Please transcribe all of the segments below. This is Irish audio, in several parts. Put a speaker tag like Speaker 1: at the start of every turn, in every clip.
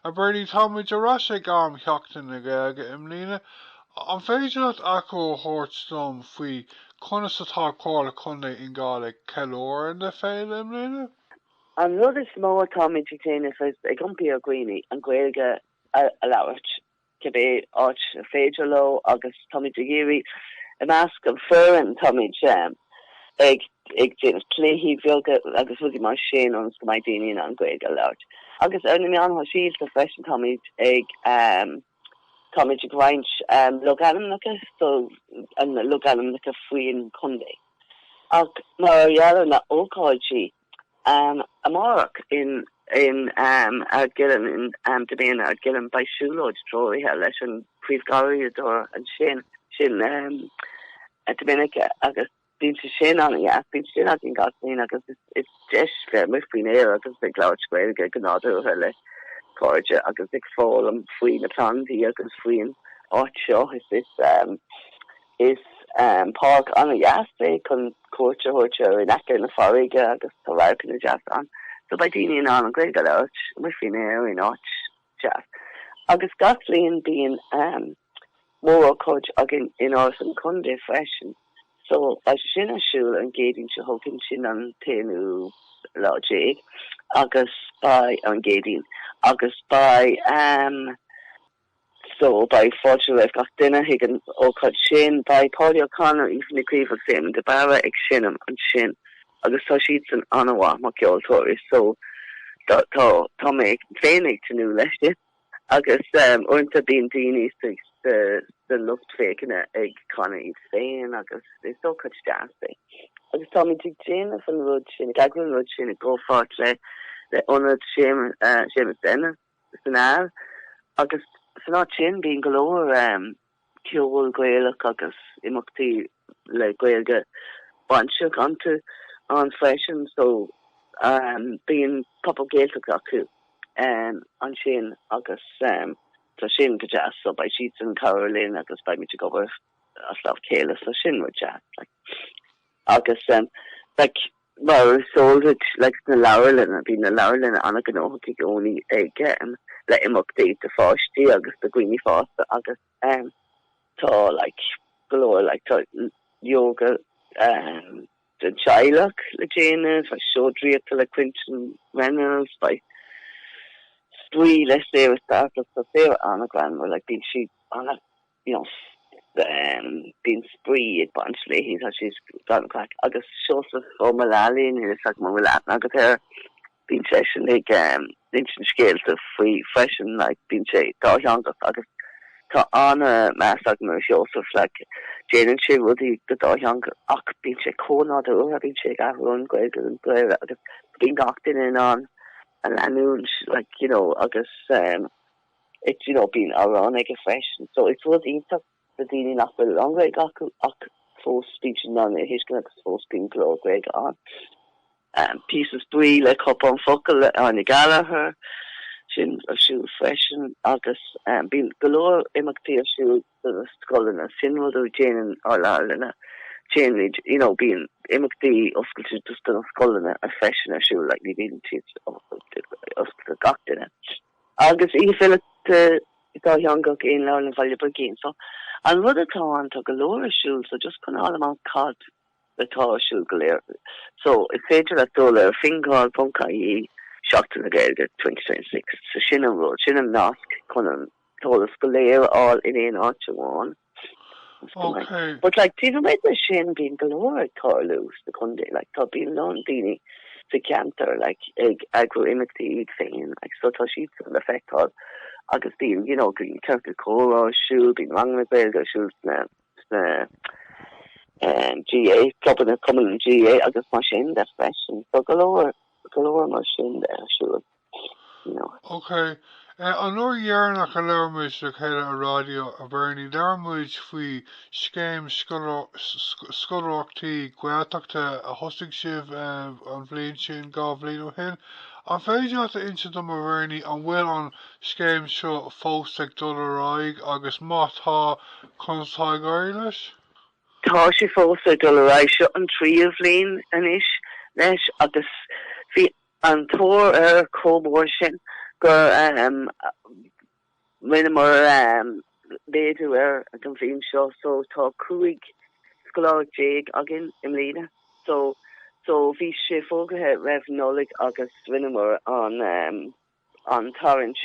Speaker 1: A Bernie, táimid ar ais ag am Sheachtain na Gaeilge i mbliana. An féidir leat achoimre a thabhairt dom faoi conas atá Comhairle Contae Fhine Gall ag ceiliúradh na féile i mbliana? An rud
Speaker 2: is mó atáimid ag déanamh is ag impí ar dhaoine an Ghaeilge a labhairt. cibé áit ar féidir leo, agus táimid ag iarraidh, i measc an foireann, táimid ag déanamh cluichí beaga agus rudaí mar sin ionas go mbeidh daoine in ann Gaeilge a labhairt. Agus ar na meáin shóisialta freisin táimid ag táimid ag roinnt logainmneacha so logainmneacha faoin chontae. Ach mar gheall ar na hócáidí. Amárach in Ardgillan i nDiméin Ardgillan beidh siúlóid treoraithe leis an bpríomhgharraíodóir ansin, sin Dominica agus bíonn sé sin an-dheas, bíonn sé sin againn gach bliain agus is deis bheith amuigh faoin aer agus ag labhairt Gaeilge go nádúrtha le cairde agus ag foghlaim faoi na plandaí agus faoin áit seo. Is. Is páirc an-deas é chun cuairt a thabhairt air, in aice na farraige agus tá radharcanna deasa ann. So beidh daoine in ann an Ghaeilge a labhairt amuigh faoin aer in áit deas. Agus gach bhliain bíonn mórócáid againn in Áras an Chontae freisin. So beidh sé sin ar siúl an gCéadaoin seo chugainn, sin an t-aonú lá déag agus beidh, ar an gCéadaoin, agus beidh. so beidh fáilte roimh gach duine chuig an ócáid sin. Beidh Paudie O'Connor, Aoife Ní Chaoimh agus Éamonn de Barra ag seinm ansin agus tá siadsan an-mhaith mar cheoltóirí so tá tá tá mé féin ag tnúth leis sin agus um, uaireanta bíonn daoine sa sa sa lucht féachana ag canadh iad féin agus is ócáid deas é. Agus táimid ag déanamh an rud sin, ag eagrú an rud sin i gcomhpháirt le le ionad Séamus uh, Séamus Ennis san Aill, agus san áit sin bíonn go leor ceol Gaelach agus imeachtaí le Gaeilge bainteach iontu ann freisin, so bíonn Pop-Up Gaeltacht acu ansin agus tá sin go deas, so beidh siadsan ag cabhrú linn agus beimid ag obair as lámh a chéile, so sin rud deas. Agus like mar is eol duit like na leabharlanna, bíonn na leabharlanna an-ghnóthach i gcónaí ag le imeachtaí do pháistí agus do dhaoine fásta agus tá like go leor like tá ióga don teaghlach le déanamh, beidh seó draíochta le Quentin Reynolds, beidh spraoi le saobhadh stádas do saobhadh an-ghreannmhar, like bíonn siad Nós, Bíonn spraoi ag baint léi, tá sí gan an craic. Agus Seosamh Ó Maolalaí, níl 'fhios agam an bhfuil aithne agat air, bíonn seisean ag insint scéalta faoi freisin, like, bíonn sé dátheangach agus tá an-meas agam ar Sheosamh, like, déanann sé rudaí go dátheangach ach bíonn sé chomh nádúrtha, bíonn sé ag athrú ón Ghaeilge go Béarla agus bíonn gach duine in ann a leanúint, like, you know, agus. you know, bíonn amhráin aige freisin. So is rud iontach do daoine nach bhfuil a lán Gaeilge acu ach fós bíonn siad in ann é a thuiscint agus fós bíonn go leor Gaeilge ann. Um, píosa spraoi le Cupán Focal le Áine Gallagher, sin ar siúl freisin agus, um, bíonn go leor imeachtaí ar siúl do na scoileanna. Sin rud a dhéanann ár leabharlanna. Déanann, you know, bíonn imeachtaí oscailte just do na scoileanna a freisin ar siúl, like ní bhíonn siad oscailte do gach duine. Agus oíche filíochta dátheangach i Leabharlann Bhaile Brigín. So an rud atá ann, tá go leor ar siúl, so just chun fáil amach cad. atá ar siúl go léir. So, is féidir leat dul ar fingal.ie, Seachtain na Gaeilge 2026. So, sin an rud, sin an nasc chun an t-eolas go léir a fháil in aon áit amháin. Okay.
Speaker 1: But like, taobh
Speaker 2: amuigh de sin, bíonn go leor ag tarlú sa chontae. Like, tá bíonn a lán daoine sa ceantar like, ag eagrú imeachtaí iad féin, like, so tá siadsan le feiceáil. Agus bíonn, you know, bíonn ciorcal comhrá ar siúl, bíonn ranganna Gaeilge ar siúl sna sna GAA, clubanna cumann na GAA agus mar sin de freisin. Tá go leor, go leor mar sin de ar siúl, you
Speaker 1: know. OK. An uair dheireanach a labhair muid le chéile ar raidió, a Bhernie, labhair muid faoi scéim scoláireachtaí Gaeltachta a thosaigh sibh an bhliain sin, dhá bhliain ó shin. An féidir leat a insint dom, a Bhernie, an bhfuil an scéim seo fós ag dul ar aghaidh agus má tá, conas atá ag éirí leis?
Speaker 2: Tá sé fós ag dul ar aghaidh. Seo an tríú bhliain anois leis agus bhí an tóir air chomh mór sin gur rinneamar méadú air don bhliain seo so tá 15 scoláireacht againn i mbliana. So bhí sé fógraithe roimh Nollaig agus rinneamar an. an tarraingt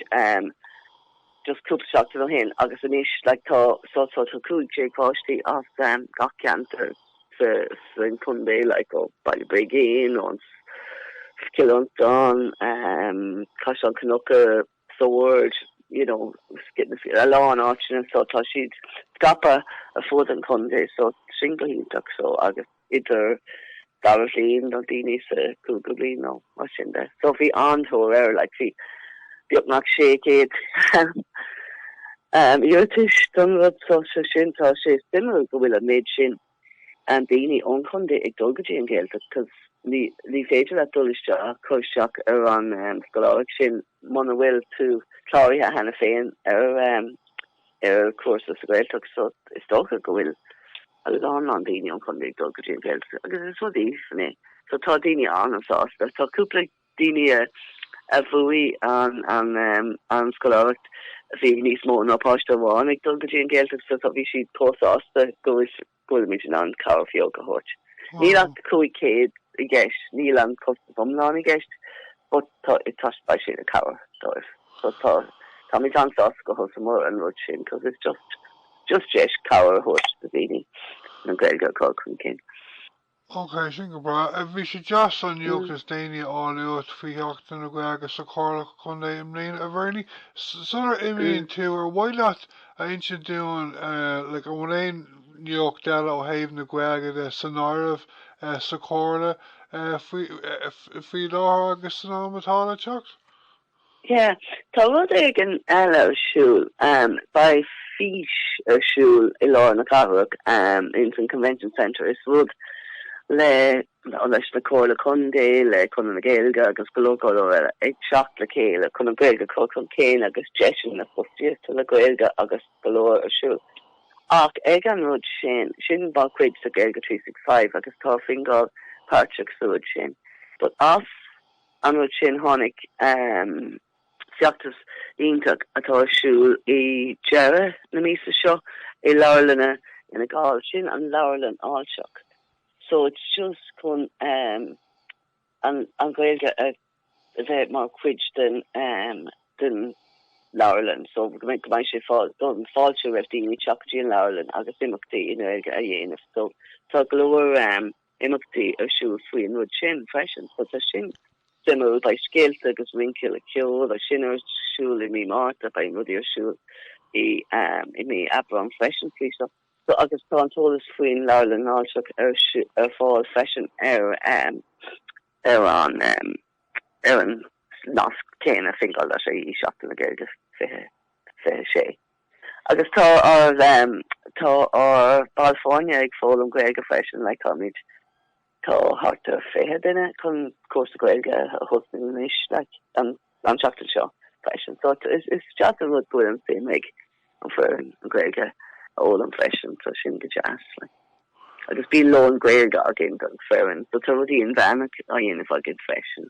Speaker 2: just cúpla seachtain ó shin agus anois like tá so tá tá 15 páistí as gach ceantar sa sa chontae like ó Baile Brigín ón Cill Fhionntain Caisleán Cnucha Sord you know a lán áiteanna so tá siad scaipthe ar fud an chontae so sin go hiontach so agus idir dara bhliain nó daoine sa chúigiú bliain nó mar sin de. So bhí an-tóir air, like bhí beagnach 600 iarratas don rud so so sin tá sé suimiúil go bhfuil an méid sin daoine ón chontae ag dul go dtí an Ghaeltacht cos ní ní féidir leat dul isteach cur isteach ar an scoláireacht sin muna bhfuil tú cláraithe cheana féin ar ar chúrsa sa Ghaeltacht so is dócha go bhfuil a lán lán daoine ón chontae ag dul go dtí an Ghaeltacht agus is rud aoibhinn é so tá daoine an-sásta tá cúpla daoine a bhuaigh an an scoláireacht bhí níos mó ná páiste amháin ag dul go dtí an Ghaeltacht so tá bhí siad chomh sásta go bhfuil go bhfuilimid in ann cabhair bheag a thabhairt. Níl ach 500 i gceist, níl an costas iomlán i gceist but tá is beidh sé ina chabhair dóibh so tá táimid an-sásta gur thosaíomar an rud sin cos is just just deis cabhair a thabhairt do dhaoine an Ghaeilge a chur chun cinn.
Speaker 1: Ócé, sin go breá. Bhí sé deas an nuacht is déanaí a fháil uait faoi Sheachtain na Gaeilge sa Chomhairle Contae i mbliana, a Bhernie. Sular imíonn tú, ar mhaith leat a insint dúinn, like, an bhfuil aon nuacht eile ó thaobh na Gaeilge de san áireamh sa Chomhairle faoi láthair agus san am atá le teacht?
Speaker 2: Yeah, tá rud éigin eile ar siúl. Beidh fís ar siúl i lár na cathrach, ins an Convention Centre. Is rud le, leis na Comhairle Contae, le Conradh na Gaeilge agus go leor, go leor eile ag teacht le chéile chun an Ghaeilge a chur chun cinn agus deiseanna fostaíochta le Gaeilge agus go leor ar siúl. Ach ag an rud sin, sin ba chuid de Gaeilge Three Six Five agus tá Fingal páirteach sa rud sin. But as. an rud sin tháinig feachtas iontach atá ar siúl i deireadh na míosa seo i leabharlanna Fhine Gall, sin an leabharlann fháilteach so it's just chun an Ghaeilge a bheith mar chuid den leabharlann so go mbeidh sé fáilte roimh dhaoine teacht go dtí an leabharlann agus imeachtaí i nGaeilge a dhéanamh so tá go leor imeachtaí ar siúl faoin rud sin freisin so tá sin suimiúil. Beidh scéalta agus rince le ceol agus sin ar siúl i mí Márta, beidh rudaí ar siúl i mí Aibreáin freisin faoi seo. So agus tá an t-eolas faoin Leabharlann Fháilteach ar ar fáil freisin ar an ar an ar an nasc céanna Fingal.ie seachtain na Gaeilge 20 26. Agus tá ár, tá ár baill foirne ag foghlaim Gaeilge freisin, like táimid, tá thart ar fiche duine chun cúrsa Gaeilge a thosnú anois like an, an seachtain seo freisin. So is, is deas an rud go bhfuil an suim ag an foireann an Gaeilge a fhoghlaim freisin so sin go deas like. Agus bíonn lón Gaeilge againn don foireann so tá rudaí inmheánach á dhéanamh againn freisin.